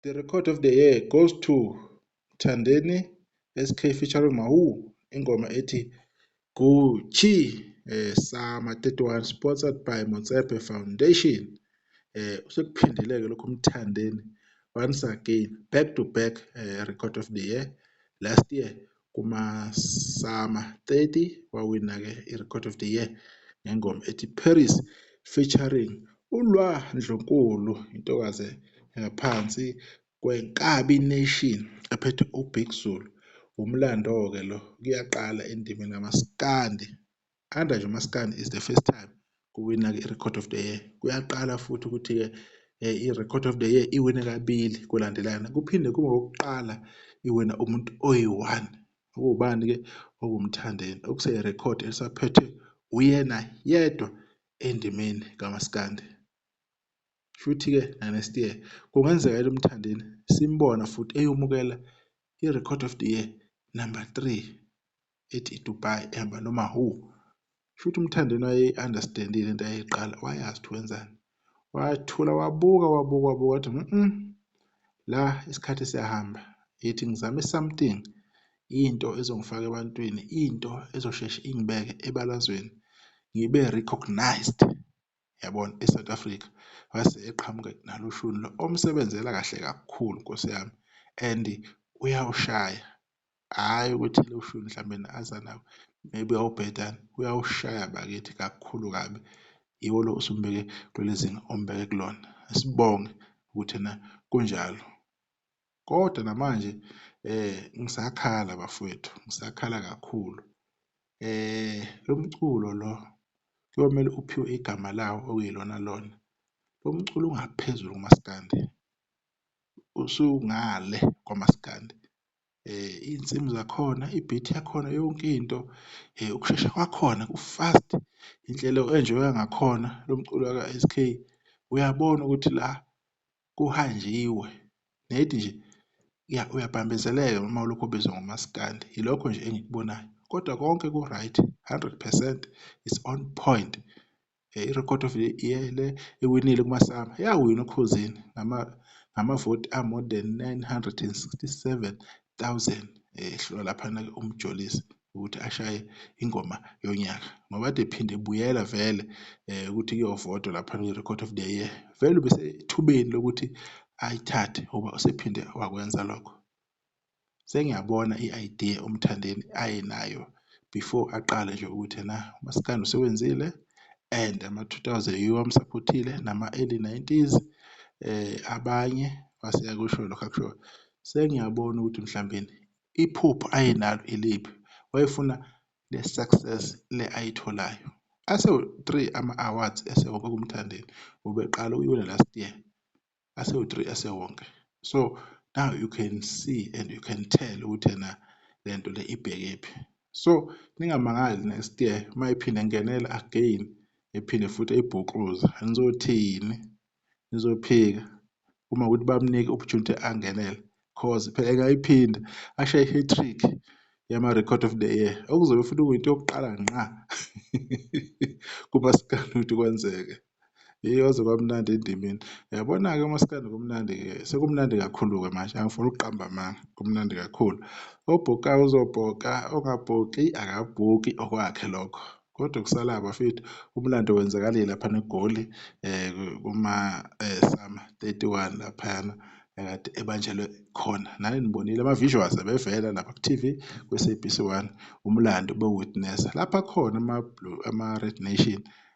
The record of the year goes to Thandeni SK featuring Mahu ingoma ethi Gucci eh Sama 31 sponsored by Motsepe Foundation eh usekuphindeleke lokho umthandeni once again back to back eh, record of the year last year kumasama 30 wawina-ke iRecord of the Year ngengoma ethi Paris featuring uLwa Ndlunkulu intokazi engaphansi kwenkabi Nation ephethe uBig Zulu. Wumlando-ke lo kuyaqala endimeni kamaskandi. Under nje umaskandi is the first time kuwina-ke i-record of the year kuyaqala futhi ukuthi-ke um i-record of the year iwine kabili kulandelana kuphinde kube okokuqala iwina umuntu oyi-one okuwubani-ke okumthandeni okuseyi-record elisaphethwe uyena yedwa endimeni kamaskandi futhi-ke na-next year kungenzeka elimthandeni simbona futhi eyomukela i-record of the year number three ethi iDubai ehamba noma who shuthi uMthandeni wayeyi-understand-ile into ayeyiqala wayazi ukuthi wenzani wathula wabuka wabuka wabuka wathi mm la isikhathi siyahamba ethi ngizame something into ezongifaka ebantwini into ezosheshe ingibeke ebalazweni ngibe recognized yabona eSouth Africa wase eqhamuka nalo shuni lo omsebenzela kahle kakhulu Nkosi yami and uyawushaya Hhayi ukuthi ushuni mhlampe aza nawo maybe uyawubheda uyawushaya bakithi kakhulu kabi. Yiwo lo osumbeke kuleli zinga ombeke kulona. Asibonge ukuthi ena kunjalo. Kodwa namanje ngisakhala bafwethu, ngisakhala kakhulu. Lo mculo lo kuyomele uphiwe igama lawo okuyilona lona. Lo mculo ungaphezulu kumaskandi, usungale kwamaskandi. Iy'nsimu zakhona, i-beat yakhona yonke into ukushesha kwakhona ku-fast. Indlela o-enjoy-a ngakhona lo mculo ka-S_K uyabona ukuthi la kuhanjiwe nedi nje uyabambezeleka noma ulokhu ubizwa ngomaskandi. Ilokho nje engikubonayo kodwa konke ku-right hundred percent it's on point. iRecord of the Year le iwinile kuMasama, yawina uKhuzini ngamavoti a-more than 967 000 ehlulwa laphana-ke uMjolisi ukuthi ashaye ingoma yonyaka ngoba kade ephinde ebuyela vele um ukuthi kuyovotwa laphana kwi-Record of the Year. Vele ubesethubeni lokuthi ayithathe ngoba usephinde wakwenza lokho. Sengiyabona i-idea uMthandeni ayenayo before aqale nje ukuthi ena umaskandi usewenzile and ama-two thousand yiwo amusaphothile nama-early nineties abanye wase eyakusho lokho akushoyo. Sengiyabona ukuthi mhlawumbeni iphupho ayenalo iliphi, wayefuna le success le ayitholayo. Asewu-three ama-awards esewoke kuMthandeni, ubeqala ukuyiwina last year. asewu-three esewonke so now you can see and you can tell ukuthi yena le nto le ibhekephi so ningamangali next year uma iphinde ngenela again ephinde futhi eyibhuquza nizothini nizophika uma ukuthi bamnike opportunity angenele cause phela engayiphinde ashaye i-hat-trick yama-record of the year okuzobe futhi kuyinto yokuqala nqa kumasikana ukuthi kwenzeke Hheyi kwaze kwamnandi endimeni. Uyabona-ke maskandi kumnandi-ke, sekumnandi kakhulu-ke manje, angifuni ukuqamba amanga, kumnandi kakhulu. Obhokayo uzobhoka, ongabhoki akabhoki okwakhe lokho. Kodwa okusalayo bafethu, umlando wenzakalile laphana eGoli kuma-Summer 31 laphayana ekade ebanjelwe khona. Nani nibonile ama-visuals abevela lapha ku-T_V kwi-S_A_B_C 1, umlando bewuwitnesa. Lapha akhona ama-Red Nation,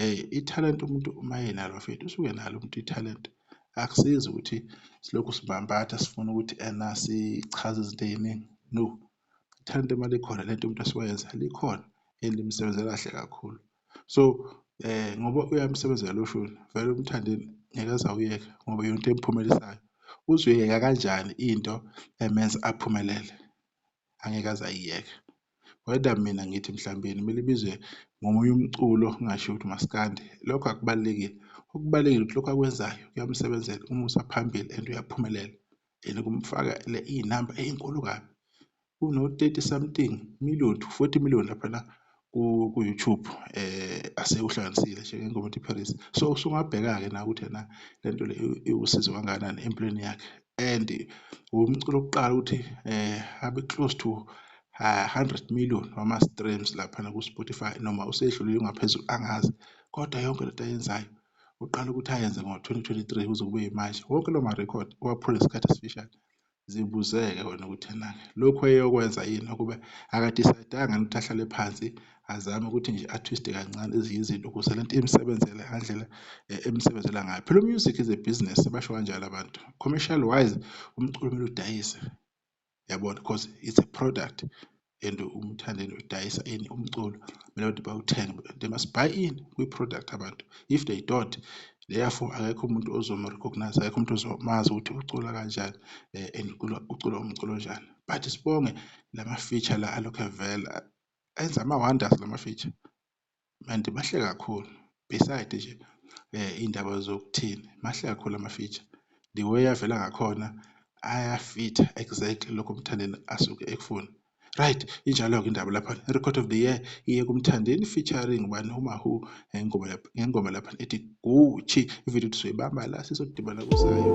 Hey ithalente umuntu uma enalo mfethu usuke nalo umuntu ithalente. Akusizi ukuthi silokhu sibampatha sifuna ukuthi ena sichaze izinto ey'ningi. No, ithalente uma likhona lento umuntu asuke yenza likhona and limsebenzela kahle kakhulu. So eh ngoba uyamsebenzela lo shuni vele umthandeni ngeke aze awuyeke ngoba yonto emphumelisayo. Uzoyeka kanjani into emenza aphumelele? angeke aze ayiyeke. Whether mina ngithi mhlawumbe yena kumele ibizwe ngomunye umculo ngingasho ukuthi umaskandi lokho akubalulekile. Okubalulekile ukuthi lokho akwenzayo kuyamsebenzela umusa phambili and uyaphumelela and kumfakele iy'namba ey'nkulu kabi. Kuno-thirty something million to forty million laphana ku-YouTube asewuhlanganisile nje ngengoma ethi Paris so usungabheka-ke nawe ukuthi ena le nto le iwusizo kangakanani empilweni yakhe and wumculo wokuqala ukuthi um abe close to hundred million wama-streams laphana ku-Spotify noma usedlulile ungaphezulu angazi kodwa yonke le nto ayenzayo uqala ukuthi ayenze ngo-twenty twenty-three kuze kube yimanje wonke loo marekhodi uwaphula ngesikhathi esifishane. Zibuzeke wena ukuthi enake lokhu eyokwenza yini ukube akadisaydanga ukuthi ahlale phansi azame ukuthi nje atwiste kancane ezinye izinto ukuze lento imsebenzele ngandlela eh, emsebenzela ngayo phela umusic is a business basho kanjalo abantu commercial wise umculo kumele udayise yabona because it's a product and umthandeni udayisa ini umculo mina ukuthi bawuthenge they must buy in kwi-product abantu if they don't therefore akekho umuntu ozomu-recognize akekho umuntu ozomazi ukuthi ucula kanjani um and ucula umculo onjani but sibonge lama-feature la alokhu evela enza ama-wonders lama-feature Manje mahle kakhulu beside nje eh indaba zokuthini mahle kakhulu ama feature the way avela ngakhona ayafitha exactly lokho umthandeni asuke ekufuna right injalo ke indaba lapha record of the year iye kumthandeni featuring ubani uma who ngengoma lapha ngengoma lapha ethi Gucci ivideo sizoyibamba la sizodibana kusayo